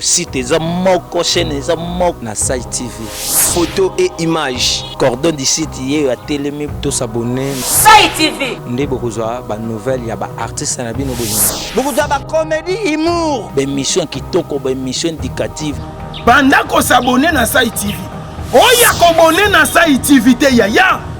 site eza moko chaîne eza moko na site tv photo et image cordon du site ye ya telemi to s'abonner site tv nde bokozwa ba nouvelle ya ba artistes na bino bolingo bokozwa ba comedy humour ba émission kitoko ba émission indicative banda ko s'abonner na site tv oya ko bonner na site tv te yaya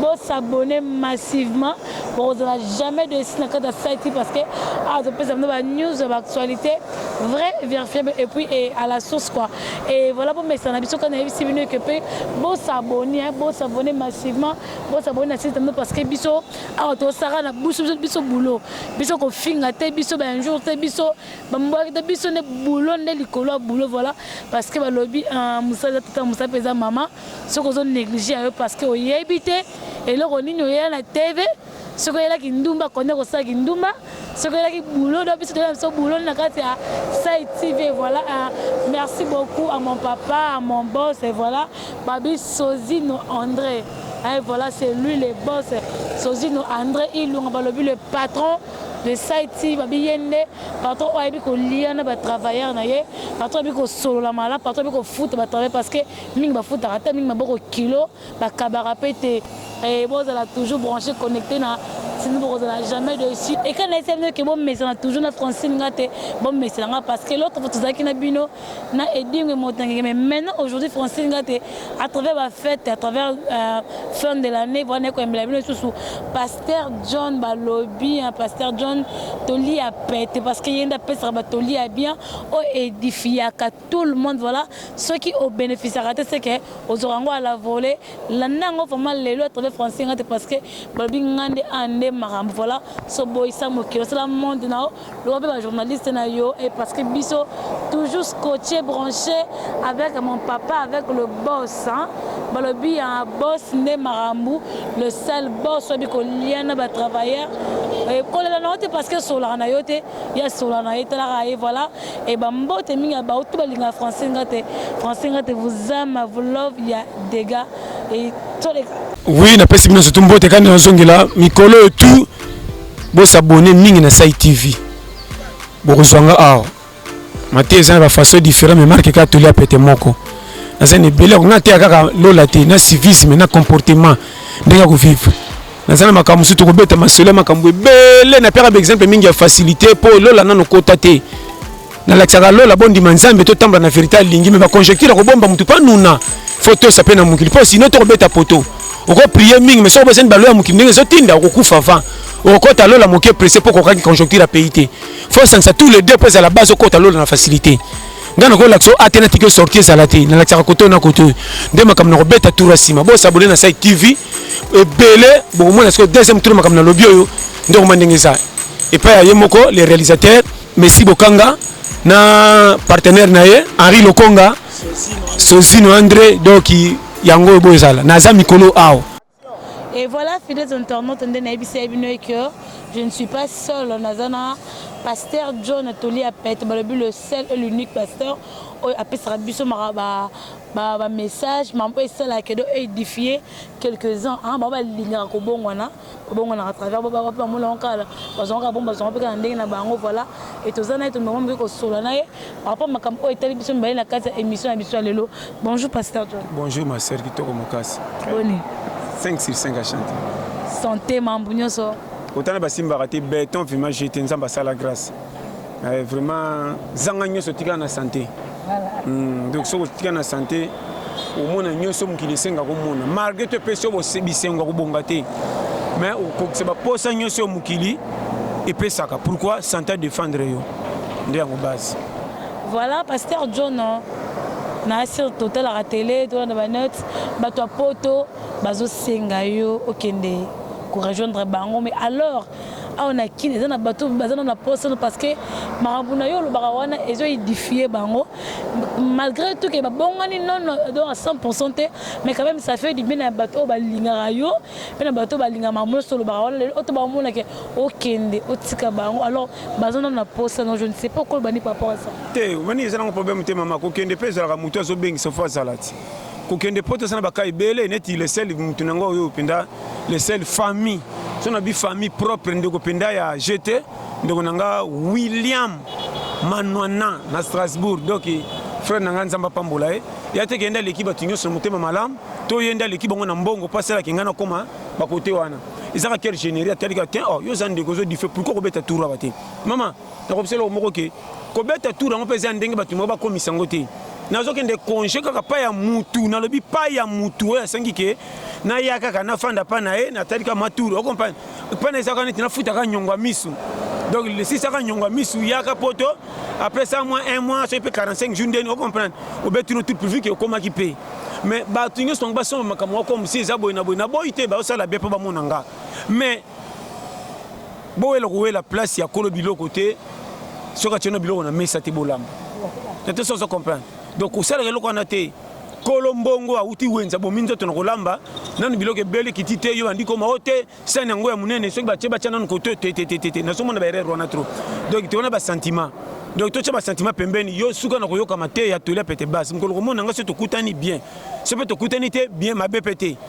Bo s'abonner massivement bokozala jamais dessus na kati ya site parce que awa topesa bino ba news ya ba actualités vrai verifiable et puis et à la source quoi et voilà bomesana biso kaka nayebisi bino que pe bo s'abonner hein, bo s'abonner massivement bo s'abonner na site na bino parce que biso awa tosaka na biso biso biso boulot biso kofinga te biso ba un jour te biso bambwaki te biso nde boulot nde likolo ya boulot voilà parce que balobi uh, mosala eza tata mosala mpe eza mama soki ozo neglige ya yo parce que oyebi te eloko nini oyela na TV soki oyela kindumba konde kosala kindumba soki oyelaki boulot do biso toyela biso boulot na kati ya sai TV voilà hein. merci beaucoup à mon papa à mon boss et voilà babi Sozino André hein, voilà c'est lui le boss Sozino André Ilunga balobi le patron de saiti babi ye nde patron oyo ayebi kolia na batravailleur na ye patron ayebi kosolola malamu patron ayebi kofuta batravailleur parce que Mingi bafutaka te, mingi maboko kilo, bakabaka pe te. Ee, bozala toujours branche, connecte na Sinon bokozala jamais dessus. Et quand nayebi bino que bomesana toujours na Francine nga te, bomesana nga parce que l'autre fois tozalaki na bino na Edingwe Motangenge mais maintenant aujourd'hui Francine nga te à travers ba fêtes, à travers euh, fin de l'année voilà naye koyembela bino lisusu Pasteur John balobi hein, Pasteur John toli ya pete parce que yenda pesaka ba toli ya bien o edifiaka tout le monde voilà soki o beneficiaka te seke ozwaka yango ala vole landa yango vraiment lelo atreve français nga te parce que balobi nga nde a nde makambo voilà so boyisa mokili osala monde na yo lokola mpe bajournaliste na yo e parce que biso toujours scotché branché avec mon papa avec le boss hein? balobi ya boss nde makambo le seul boss oyebi kolia na batravailleur kolela na yo te parce que esolaka na yo te ye esolaka na ye etalaka ye voilà Et ba mbote mingi ya bauti balingaka français nga te français nga te vous aime à vous love ya dega et toleka Oui, napesi bino surtout mbote kani nazongela mikolo oyo tu bosabone mingi na Sai TV bokozwa nga awa mate eza na bafaçon différent mais marke kaka toli ya pete moko naza na ebele yango nga teya kaka lola te na civisme na comportement ndenge ya kovivre naza na makambo mosusu tokobeta masolo ya makambo ebele napiaka baexemple mingi ya facilité mpo lola nano kota te nalakisaka lola bondima nzambe totambola na verité alingi me baconjecture akobomba motu mpo anuna fo tosa mpe na mokili mpo sino tokobeta poto okoprie mingi me soki obosani balo ya mokili ndenge ezotinda okokufa avant okokɔta lola moke presse mpo okokaki conjoncture ya pays te fo osangisa tous les deux mpo ezala base okota lola na facilité ngai nakolakisa oyo ate natiki osorti ezala te nalakisaka koto na koto oyo nde makambo nakobeta tour ya nsima bosabone na sai tv ebele bokomona sikoyo deuxième tour makambo nalobi oyo nde okoma ndenge eza epai ya ye moko le réalisateur messi bokanga na partenaire na ye henri lokonga sozino andre donc yango oyo boyo ezala naza mikolo awa Et voilà, fidèles internautes, on a que je ne suis pas seul. On a pasteur John Atoli Apet, le seul et l'unique pasteur. Oh, a fait sa biso maraba Ba ba messages ma mpe esalaka edo edifier quelques uns hein, bango balingaka kobongwana, babongwanaka à travers baba wapi bamona yango kala, bazwanga kaka bongo bazwanga mpe kaka na ndenge na bango voilà, et toza na ye tomema mpe kosolola na ye par rapport makambo oyo etali biso mibale na kati ya emission na biso ya lelo. Bonjour Pasteur John. Bonjour ma sœur kitoko makasi. Boni. 5 sur 5 à chanter. Santé mambo nyonso. Otana basimbaka te beton vraiment jeté nzambe asala grâce. Eh, vraiment zanga nyonso otikala na sante hmm, donc soki otikala na sante omona nyonso mokili esenga komona malgré to epesi yo bisengo ya kobonga te mais okokisa baposa nyonso yo mokili epesaka pourquoi sante adefendre yo nde yango base voilà pasteur john na sur totalaka tele tolanda banete bato ya poto bazosenga yo okende korejoindre bango mais alors Awa na kin eza na bato baza na posa parce que makambo na yo olobaka wana ezo edifie bango malgré tout ke babongani non do à 100% te mais quand même ça fait du bien na bato balingaka yo pe na bato balingaka makambo nyonso olobaka wana lelo oto baomona ke okende otika bango alors baza na posa non je ne sais pas okoloba ni par rapport à ça te omoni eza nango problème te mama kokende pe ezalaka moto azobengisa fo azala ti kokende poto eza na baka ebele neti le seul motu na yango oyo mpenza le seul famille so na bi famille propre ndeko mpenza ya jete ndeko na nga william manwana na strasbourg donc frère na ngai nzambe apambola ye ya te kende aleki bato nyonso na motema malamu to ye nde aleki bango na mbongo mpo asalaki ngai nakoma bakote wana ezaka quel généri atalika te o oh, yo oza ndeko ozodife pourkoi kobeta tour aba te mama Nakobisa eloko moko ke kobeta tour yango mpe eza ndenge bato moko bakomisa yango te nazokende konge kaka pa ya mutu nalobi pa ya mutu oyo asengi ke naya kaka nafanda pa na ye natali kaka maturu okomprane pa na ezaka neti nafutaka nyongo ya misu donc lesisaka nyongo ya misu yaka poto après ça mois un mois soki mpe 45 jour ndeni okomprane obeti no tout pourvu ke okomaki mpe mais bato nyonso bango basomba makambo moko mosi eza boye na boye na boyi te baosala bien mpo bamona nga mais bowela kowela place ya kolo biloko te soki atyeno biloko na mesa te bolamba na te soso comprendre donc kosalaka eloko wana te kolo mbongo awuti wenza bomi nzoto na kolamba nanu biloko ebeli kiti te yo bandi koma o te sani yango ya monene soki batye batya nanu koto tetetetete nazomona baerreur wana trop donc te wana basentiment donc totya basentiment pembeni yo suka na koyoka mateya tolia pete base mokolo komona ngai so tokutani bien so mpe tokutani te bien mabe mpe te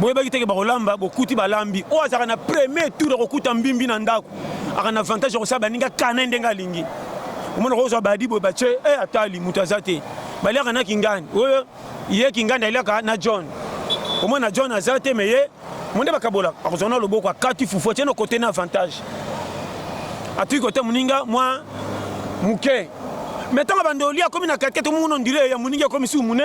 boyebaki teke bakolamba bokuti balambi oyo azalaka na premier tour akokuta mbimbi na ndako aka na avantage ya kosala baninga kana ndenge alingi omona kozwa badi boye batie e eh, atali moto aza te baliaka na kingani oyo ye kingani aliaka na john omona john aza te me ye monde bakabola akozwa na loboko akati fufu atie na kote na avantage atiki kote moninga mwa moke me ntango bandoli akomi na kati kati omongo na ondire ya moninga akomi su mune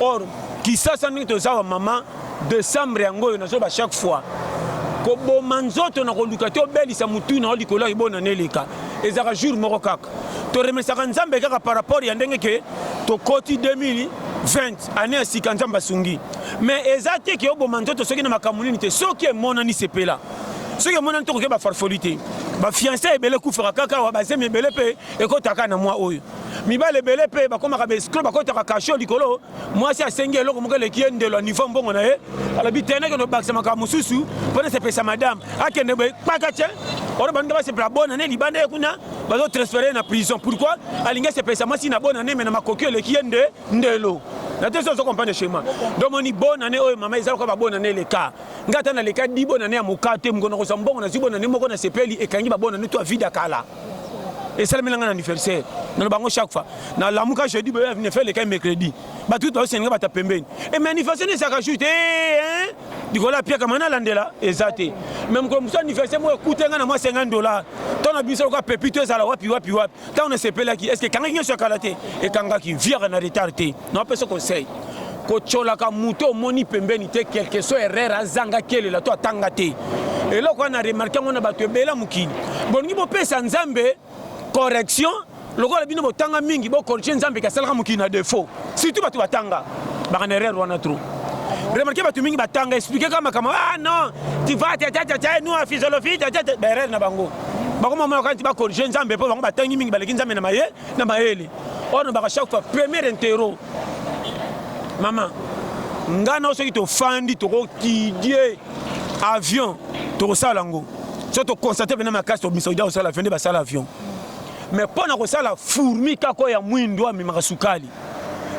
or kisasa ndenge toza ba mama decembre yango oyo nazoba chaque fois koboma nzoto na koluka te obelisa motu na yo likolo ya libona na eleka ezalaka jour moko kaka toremesaka nzambe kaka par rapport ya ndenge ke tokoti 2000 20 année ya sika nzambe asungi mais eza te ke oboma nzoto soki na makambo nini te soki emonani sepela soki emonani tokoke bafarfoli te bafianse ebele ekufaka kaka awa bazemi ebele mpe ekotaka na mwa oyo mibali ebele mpe bakomaka baescro bakotaka kasho likolo mwasi asengi eloko moko eleki ye ndelo ya nivo mbongo na ye alobi te nakende obakisa makambo mosusu mpo nasepesa madame akende boye kpaka te wana baninga basepela bona ne libanda ye kuna bazotransfere ye na prison pourkui alingi asepesa mwasi na bona ne me na makoki eleki ye nde ndelo na te so ozo comprendre schéma donc moni bonne année oyo mama eza lokola babonne année eleka ngai ata naleka di bonne année ya moka te mokona kozwa mbongo nazwi bonne année moko nasepeli ekangi babonne année to avida kala esalemi na ngai na anniversaire naloba yango chaque fois nalamuka jeudi boye ne fait lekai mercredi bato kutu baosenga bata pembeni e mais anniversaire ezalaka jour te eh, likolo apiaka mai nalandela eza te mais mokolo mosusu anniversaire moko ekute ngai na mwa 50 dollar to na biso lokola pepi to ezala wapi wapi wapi ntango nasepelaki estce ekangaki nyonso ya kala te ekangaki viaka na retard te napesa conseil kotyolaka moto omoni pembeni te quelque soit erreur azanga kelela to atanga te eloko wana remarke yango na bato ebela mokili bolingi bopesa nzambe correction lokola bino botanga mingi bokorige nzambe ke asalaka mokili na defaut surtout bato batanga baka na erreur wana trop remarke bato mingi batanga explike kaka makambo ah non tiva tatataa nous en physiologie tata baerreur na bango bakoma mona kaka nti bakorige nzambe mpo bango batangi mingi baleki nzambe na maye na mayele oyo nobaka chaque fois premier intero mama ngai nao soki tofandi tokokidie avion tokosala yango so tokonstate mpena makasi tobimisa odia kosala avion nde basala avion mais mpo na kosala fourmi kaka oyo ya mwindo amemaka sukali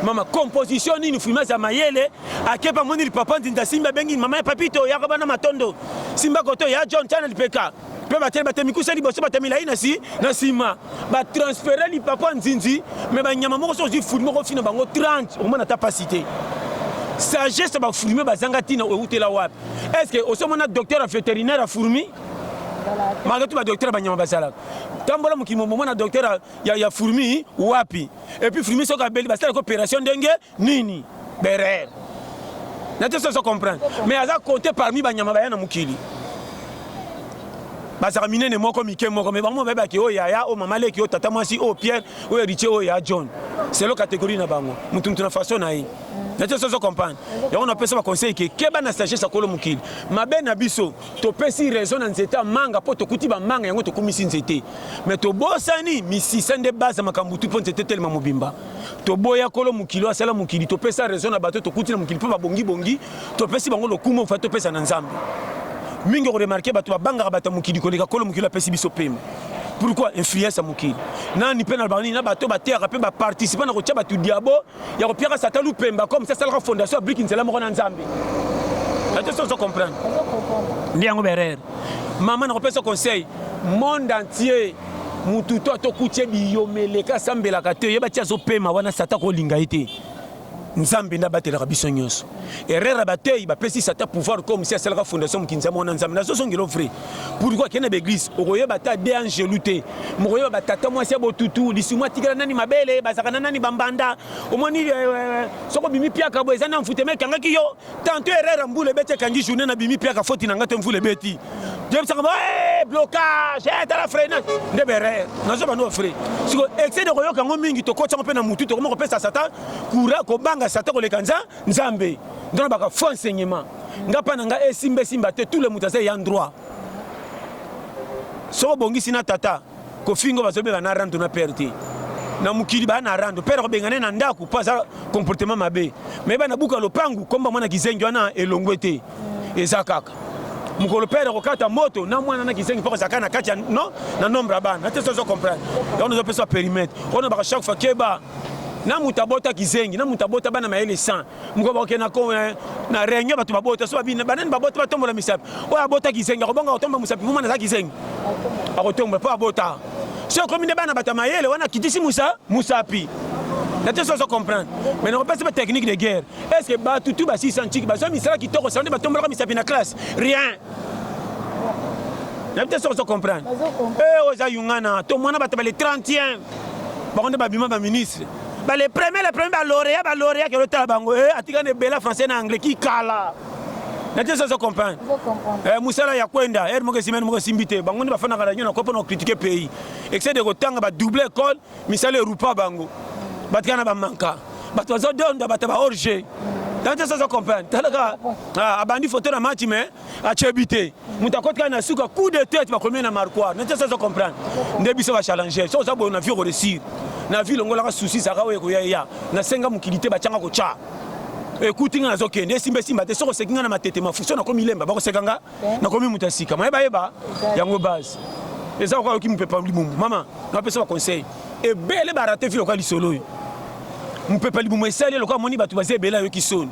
mama composition nini furmi aza mayele akepa moni lipapa nzinza simba abengi mama ya papito yaka bana matondo simba koto ya john chana lipeka mpe bateli bato ya mikuse liboso bato ya milai na si na nsima batransfere lipapo ya nzinzi me banyama moko so ozwi fulime okofina bango 30 okomona ata mpasi te sagesse ya bafulime bazanga ntina ewutela wapi estce osi omona docteur ya vétérinaire ya fourmi malgré tout badocteur ya banyama bazalaka tambola mokili momomona docteur ya, ya, ya fourmi wapi epuis fourmi soki abeli basalaka opération ndenge nini berer na te soso comprendre mais aza compte parmi banyama baya na mokili bazalaka minene moko mike moko mais bango bayebaki oyo yaya oyo mama leki oyo tata mwasi oyo pierre oyo ritie oyo ya john selo catégorie na bango motu motu na façon na ye na te soso comprendre yango napesa baconseil ke keba na sagesse ya kolo mokili mabe na biso topesi raison na nzete ya manga mpo tokuti bamanga yango tokumisi nzete mais tobosani misisa nde baza makambo tu mpo nzete telema mobimba toboya kolo mokili asala mokili topesa raison na bato tokuti na mokili mpo babongibongi topesi bango lokumu ofai topesa na nzambe mingi okoremarke bato babangaka bato ya mokili koleka kolo mokili apesi biso pema pourquoi influence ya mokili nani mpe na banini na bato bateyaka mpe baparticipa na kotya bato diabo ya kopiaka sata lupemba comme sasalaka fondation ya briki nzela moko na nzambe atosi ozo comprendre nde yango berere mama nakopesa conseil monde entier mutu to atokutie biyomele ka sambelaka te yeba ti azopema wana sata kolinga ye te nzambe nde abatelaka biso nyonso erreur ya bateyi bapesi sata pouvoir comme si asalaka fondation mokinza mwana nzambe nazozongelo vrai pourquoi akende baeglise okoyeba ata de angelu te mokoyeba batata mwasi ya botutu lisuma atikela nani mabele bazalaka na nani bambanda omoni eh, eh, eh, soko bimi piaka bo eza na mfutema ekangaki yo Tanto Herrera mbula ebeti ekangi journée na bimi piaka foti na nga te mvula ebeti. Jebisaka ba eh blocage eh tala freinage nde bere nazo bando frais. Siko excès de koyoka ngo mingi tokotsa ngo pe na mutu tokoma kopesa satan kura kobanga satan koleka nza nzambe. Ndona baka faux enseignement. Nga pa na nga esimba esimba te tout le mutu aza ya droit. Soko bongisi na tata kofingo bazo benga na rando na père te na mokili baya na rando père kobenga ne na ndako mpo aza comportement mabe me bana buka lopangu komba mwana kizengi wana elongwe te eza kaka mokolo père kokata moto na mwana na kizengi mpo kozalaka na kati ya no na nombre ya bana te sozo comprendre yango nazopesa perimetre oyo nabaka chaque fois keba na moto abota kizengi na moto abota bana mayele 100 moko bakoke na ko eh, na réunion bato babota so babina banani babota batombola misapi oyo abota kizengi akobanga kotombola mosapi mumana aza kizengi akotombola mpo abota so ekomi nde bana bato ya mayele wana akitisi musa mosapi nate soso comprendre mais nakopesa batechnique de guerre est ce que bato tu basisa ntiki bazwa misala kitoko sala nde batombolaka misapi na classe rien nayebi te soki ozo comprendre oyo eh, eza yungana to mwana bato bale 31 bango nde babima baministre ba le premier le premier ba lauréat ba lauréat kelo tala bango eh atika ne bela français na anglais ki kala na te sozo comprendre eh musala ya kwenda er moke simene moke simbite bango ni bafana kala nyona ko pona critiquer pays excès de kotanga ba double école misala erupa bango batika na ba manka bato bazo donda bato ba orge na te sozo comprendre talaka abandi photo na match mais achebi te moto akoti kaka na suka coup de tete bakomi na marquoir nete sozo comprendre nde biso ba challenger so oza boye na vie okoresir na vie longolaka souci zaka oyo ekoya eya nasenga mokili te batyanga kotya ekuti nga nazokende esimba esimba te soki oseki nga na matete mafuso nakomi lemba bakoseka nga nakomi moto ya sika mayeba yeba yango base eza okoka yoki mopepa libumu mama napesa baconseil ebele barate vi lokola lisolo oyo mopepa libumu esali lokola amoni bato baza ebele ayoki soni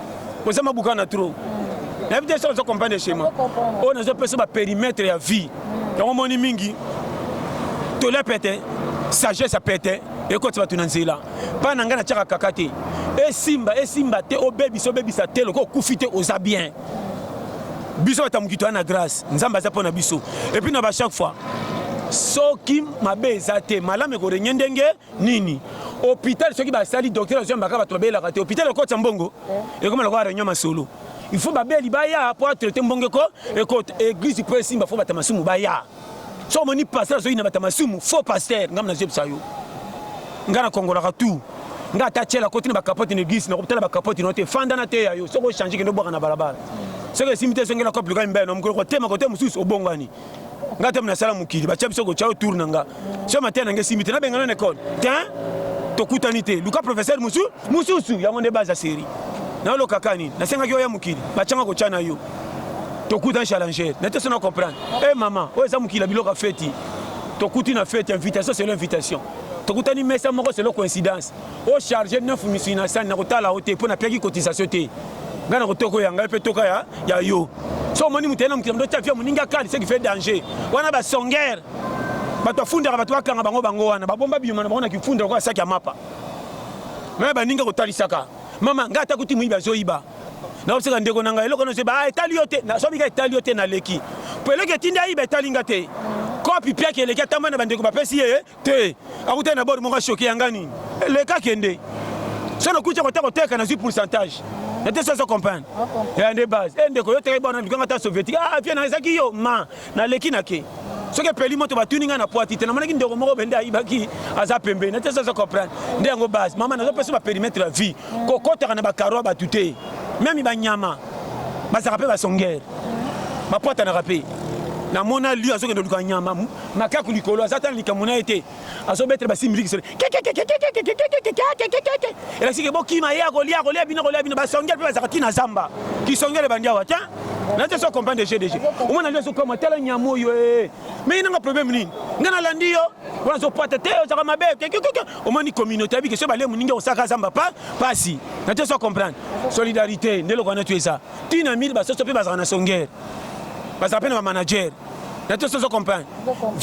oza mabuka na trop nayebi te soki ozo comprendre schéma oyo nazo pesa ba périmètre ya vie yango omoni mingi tole pete sagesse ya pete ekoti bato na nzela mpa na ngai natyaka kaka te esimba esimba te obebisa obebisa te lokola okufi te oza bien biso bato ya mokito ya na grâce nzambe aza mpo na biso epuis na ba chaque fois soki mabe eza te malamu ekorenge ndenge nini hôpital soki basali docteur azwa mbaka bato babelaka te hôpital ekotya mbongo eh. ekoma lokola réunion masolo il faut babeli baya mpo atraite mbongo eko ekota église mpo esimba fo bata masumu baya so omoni pasteur azoyi na bata masumu faux pasteur ngai nazebisa yo ngai nakongolaka tout ngai ata tyela koti na bakapote na église nakotala bakapote no te fanda na teya yo soki ochange kende obwaka na balabala soki esimbi te ezongela kope luka mibale na mokolo kotema kote mosusu obongwani nga tami nasala mokili batya biso kotya tour na nga so mateya na nga esimbi te nabengana na ekole te tokutani te luka professeur mosusu mosusu yango nde baza seri nayolokaka nini nasengaki oya mokili batyanga kotya na yo tokutani challenger na te so na comprendre e mama oyo eza mokili ya biloko ya feti tokuti na feti invitation selo invitation tokutani mesa moko selo coïncidence O charge neuf misuni na sani na kotala yo te mpo napiaki cotisation te. Ngai na kotoko ya ngai mpe toka ya, ya yo. So omoni moto na mokili moto afia moninga kali ce qui fait danger. Wana ba songeur. Bato afundaka bato bakanga bango bango wana babomba biyuma na bango na kifunda lokola saki ya mapa. Maya baninga kotalisaka. Mama ngai ata kuti moyibi azoyiba. Naoseka ndeko na ngai eloko na zoba ah, etali yo te. Na sobi ka etali yo te na leki. Mpo eleki etindi ayiba etali nga te. Kopi piaki eleki atamba na bandeko bapesi ye te akutani na bord moko ashoke yanga nini leka kende so nakuti kota koteka nazwi pourcentage nate soso comprendre ya nde base e ndeko yo teka bana ndikanga ta soviétique ah vie na ezaki yo ma naleki na ke soki epeli moto batuni ngai na poiti te namonaki ndeko moko bende ayibaki aza pembeni nate soso comprendre nde yango base mama nazopesa baperimetre ya vie kokotaka na bakaro ya bato te meme banyama bazalaka mpe basongere bapotanaka mpe namona lio azokende oluka nyama makaku likolo aza ata na likambo na ye te azobetela basi miliki solo elakisi ke bokima ye akolia akolia bino akolia bino basongele mpe bazalaka ti na zamba kisongele bandi awa te na te so comprendre de jeu de jeu omona nde azokoma tala nyama oyo e mei nanga problème nini ngai nalandi yo wana azopata te ozalaka mabe omoni communauté abike so balemu ningi osaka zamba pa pasi na te so comprendre solidarité nde eloko wana tu eza ti na mille basoso mpe bazalaka na songele bazalaka mpe na bamanager na tosi ozo comprendre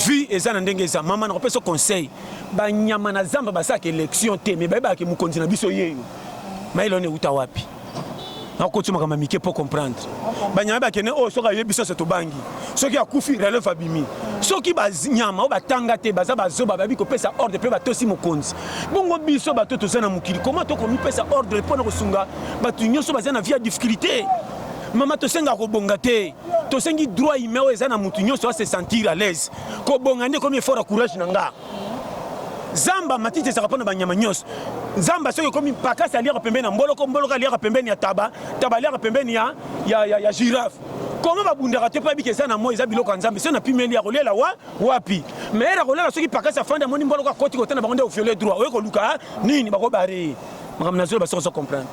vie eza na ndenge eza mama nakopesa conseil banyama na zamba basalaka élection te mais bayebaka mokonzi na biso yeyo mayele wana euta wapi nakokotisa makambo ya mike mpo comprendre banyama bakende oyo oh, soki ayebi biso se tobangi soki akufi releve abimi soki banyama oyo batanga te baza bazoba bayebi kopesa ordre mpe batosi mokonzi bongo biso bato toza na mokili koma tokomipesa ordre mpo na kosunga bato nyonso baza na vie ya difficulté mama tosenga kobonga te tosengi droit humain oyo eza na mutu nyonso ase sentir à l'aise kobonga nde ekomi effort ya courage na nga zamba matiti ezalaka mpo na banyama nyonso zamba soki ekomi pakasi aliaka pembeni ya mboloko mboloko aliaka pembeni ya taba taba aliaka pembeni ya, ya, ya, ya girafe koma babundaka te mpo yebiki eza na moi eza biloko ya nzambe soki napimeli ya kolela wa wapi maire akolela soki pakasi afandi amoni mboloko akoti kotana bango nde oviole droit oye koluka nini bakobare makambo na zoloba soki ozo comprendre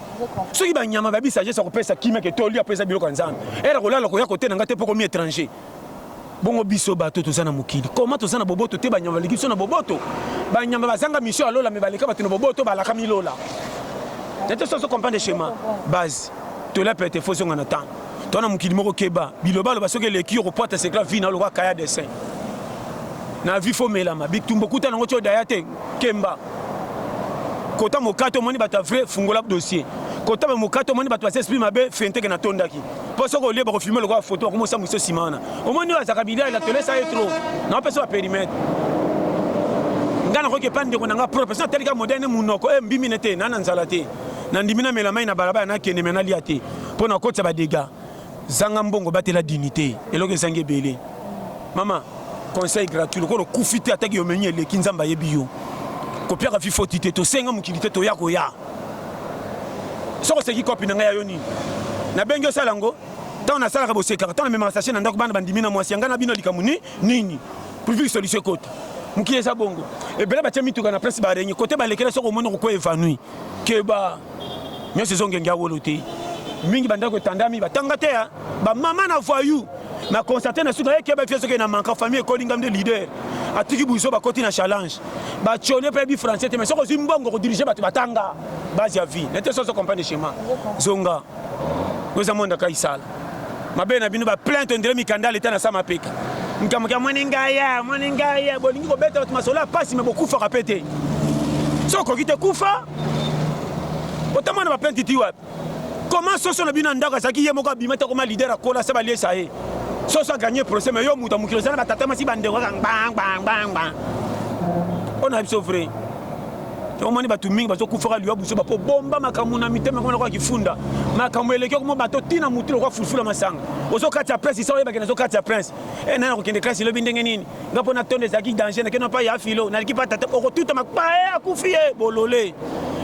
soki banyama bayebi sagesse ya kopesa kimia ke tolia mpo eza biloko ya nzambe ere kolala koya kotena ngai te mpo komi étranger bongo biso bato toza na mokili koma toza na boboto te banyama baleki biso na boboto banyama bazanga misio ya lola me baleka bato na boboto balakami lola nete soso comprendre schéma base tolia pete fo zonga na ntango to na mokili moko keba bilobaloba soki eleki yo kopwata sekla vi na lokola kaya dessin na vi fo melama bitumba okuta nango tio daya te kemba kota mokato omoni bato ya vrai fungola dossier kota ba mokato omoni bato basi esprit mabe fenteke natondaki mpo soki olie bakofilme lokola foto bakomosa moiso nsima wana omoni oyo azaka bilia ela tolesa ye tro naopesa ba perimetre ngai nakoki epai ndeko na ngai propre soki natalika moderne monoko e eh, mbimi ne te naa na nzala te nandimi namela mai na balabala nakende me nalia te mpo nakotisa badega Zanga mbongo batela dignite eloko ezangi ebele mama conseil gratuit lokola okufi te ataki yo menu eleki nzambe ayebi yo kopiaka fi foti te tosenga mokili te toya koya soko oseki kopi na ngai ya yo nini nabengi osala yango ntango nasalaka bosekaka ntango namemaka sashe na ndako bana bandimi na mwasi ya ngai na bino likambo ni nini pulvili solution ekota mokili eza bongo ebele batya mituka na place barenge kote balekela soko omoni okokwa evanui keba nionso ezo ngenge ya wolo te mingi bandako etandami batanga te ya bamama na voyou na constate na suka yeke bafi soki na manka famille ekoli ngam nde leader atiki buzo bakoti na challenge bacone mpe yebi français te mais soki ozwi mbongo kodirige bato batanga base ya vie nete soso comprendre schéma zonga oza mwanda kaisala Mabe na bino ba plainte ondire mikanda leta na sama peka. Mkambo kya mwani ngaya, mwani ngaya, bolingi kobeta bato masolo ya pasi me bokufaka pe te. So okoki te kufa, otamwana ba plainte ti wapi? Comment soso na bino ya ndako azalaki ye moko abima te akoma leader akola se baliesa ye. Soso aganye procès me yo moto ya mokili ozala na batata masi bandeko kaka ngbang bang bang bang. Ona biso vrai. omoni bato mingi bazokufaka liwa buzoba mpo bomba makambo na mitema koma lokola kifunda makambo eleki okoma bato ntina motu lokola fulfula masanga ozokati ya prince isa oyebaki nazokati ya prince e eh, nani akokende klasi elobi ndenge nini nga mpo natonda ezalaki danger nakende mpa ya filo naliki mpa tata okotuta mapaye eh, akufi ye bolole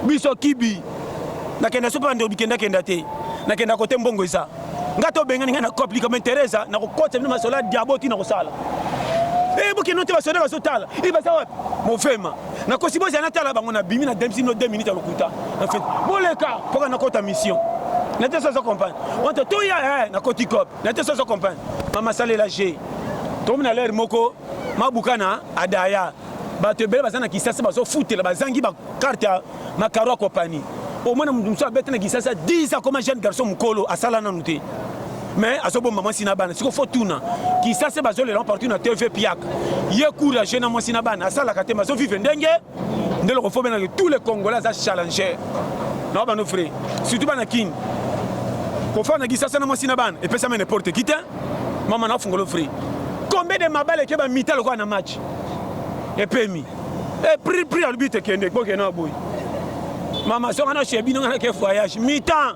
biso kibi nakenda sopa nde obikendakenda te nakenda kote mbongo eza nga tobengani ngai na cop likambo interesa nakokotisa bino masola diabo ti nakosala e bokende te basoda bazotala e baza wapi mofema na kosi bozala natala bango na bimi na demsi no 2 minutes ya lokuta en fait boleka poka na kota mission na te sozo comprendre wante toya eh, na koti cop na te sozo comprendre mama salela je tomi na lere moko mabukana adaya bato ebele baza na kisasa bazofutela bazangi bakarte ya makaro ya kopani omona moto mosusu abeta na kisasa 10 akoma jeune garçon mokolo asala nanu te mais azobomba mwasi na bana siko fo tuna kisase bazolela partout na tv piak ye courage na mwasi na bana asalaka te bazovivre ndenge nde loko fo benake tous les congolais aza challenger na bano vrai surtout bana kin kofanda kisase na mwasi na bana epesama n'importe qui te mama na fungolo vrai combien de mabale eke bamita lokola na match epemi e prix prix alobite kende bokena boye mama soka na chez bino nga nake voyage mitan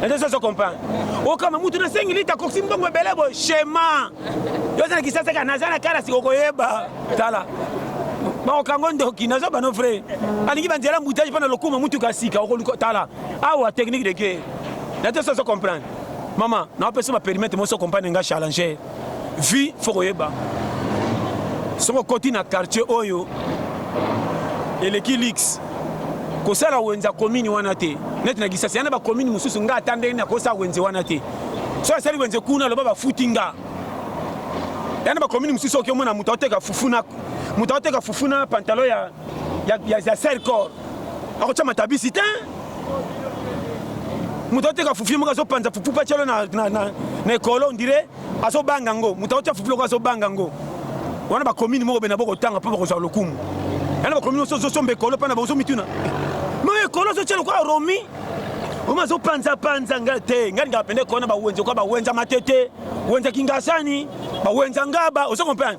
naza soso comprendre okama mutu na sengi lita koksi mbongo ebele boye shema yo oza na kisasa kaka naza na kalasi okoyeba tala bakokango ndoki naza bano vrai alingi banzela mbutage mpo na lokuma mutuka ya sika okoluka tala awa technique de guerre naza soso comprendre mama naopesa ma perimetre moso compagne nga challenge vie faut koyeba soki okoti na quartier oyo eleki lix kosala wenze ya komini wana te neti na kisasa ya na bakomini mosusu nga ata ndenge nakosala wenze wana te soki asali wenze kuna aloba bafuti nga ya na bakomini mosusu oki omona moto aoteka fufu na moto aoteka fufu na pantalo ya, ya, ya, ya sercor akotia matabisi te moto ateka fufi moko azopanza fufu mpe atyalo na, na, na, na ekolo ondire azobanga yango moto akotya fufu loko azobanga yango wana bakomini moko bena bokotanga mpo bakozwa lokumu yana bakomini oso ozosomba ekolo mpo na baozomituna ma ekolo ozotya lokola romi omi azopanzapanza nga te ngai lingaka mpenza ekolo na bawenza okola bawenza matete wenza kingasani bawenza ngaba ozo comprendre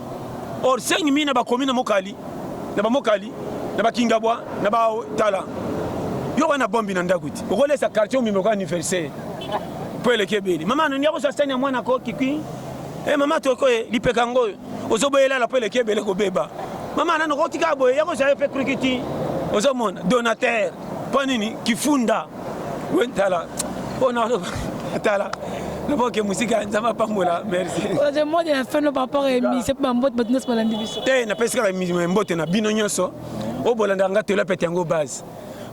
Or sengi mina bakomi na mokali na bamokali na bakingabwa na batala yo wana bombi na ndako ti okolesa quartier omimi lokola anniversaire mpo eleki ebele mama nani akozwa sani ya mwana ko kikui e eh, mama toko ye lipeka yango oyo ozoboyelala mpo eleki ebele kobeba mama nani okotika boye yakozwa ye mpe krikiti ozomona donateur mpo nini kifunda Oui, tala. Oh non, non. Tala. naboke mosika ya nzambe apambola merciemode ya feno par rapport emise mpe bambote bato nyonso balandi biso te napesi kaka mbote na bino nyonso oyo bolandaka nga telapete yango base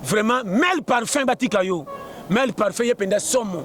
vraiment mel parfum batika yo mel parfum ye mpenza somo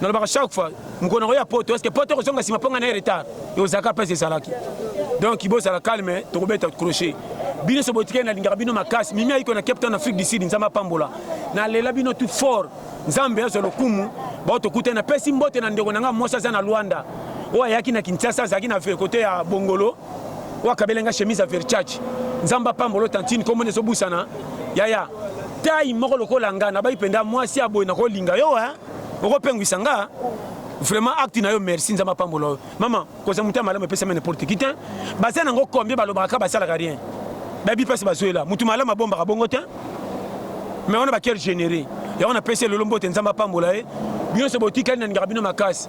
nalobaka chaque fois mokolo nakoya poto eske poto ekozonga nsima mpo ngai naye retard ekozalaka mpasi ezalaki donc bozala calme tokobeta crochet bino so botikali nalingaka bino makasi mimi ayiko na cape town afrique du sud nzambe apambola nalela bino tout fort nzambe azwa lokumu bao tokuta napesi mbote na ndeko na ngai mwasi aza na lwanda oyo ayaki na kinshasa azalaki na kote ya bongolo oyo akabela nga chemise ya verchage nzambe apambolo tantine komona ezobusana yaya tai moko lokola nga nabai mpenza mwasi ya boye nakolinga yo e okopengwisa nga vraiment acte na yo merci nzambe apambola yo mama kozala moto ya malamu epesami n'importe qui te baza nango combien balobaka kaka basalaka rien bayebi mpasi bazwela moto malamu abombaka bongo te mais wana bacoeur généré yango napesi elolo mbote nzambe apambola ye bino nyonso botikali nalingaka bino makasi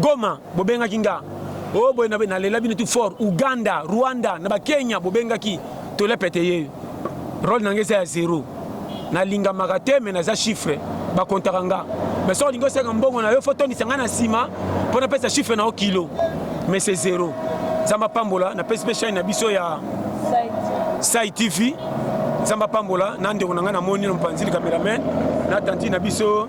Goma bobengaki nga o oh, boye na nalela bino tout fort Uganda Rwanda na ba Kenya bobengaki tole pete ye role na nga eza ya zero nalingamaka te me naza chiffre bakontaka nga me soki olingi osenga mbongo na yo fo tondisa ngai na nsima mpo napesa chiffre na yo kilo me se zero nzambe apambola napesi mpe chaine na biso ya sai tv nzambe apambola na ndeko na ngai namoni na mopanzi likameramen na tanti na biso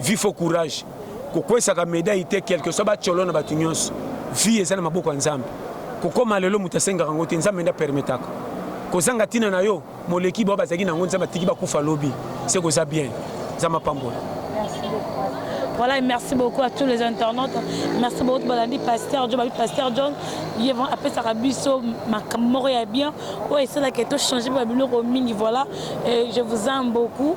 vie faut courage kokwesaka medaille te quelque soit bacolo na bato nyonso vie eza na maboko ya nzambe kokoma lelo moto asengaka yango te nzambe nde apermetaka kozanga ntina na yo moleki bao bazalaki na yango nzambe atiki bakufa lobi se koza bien nzambe apambola Voilà, et merci beaucoup à tous les internautes. Merci beaucoup à Balandi Pasteur John, Pasteur John. Il a appelé ça Rabisso, ma camarade bien. Ouais, c'est là que tout changé, Babylone, voilà. Et je vous aime beaucoup.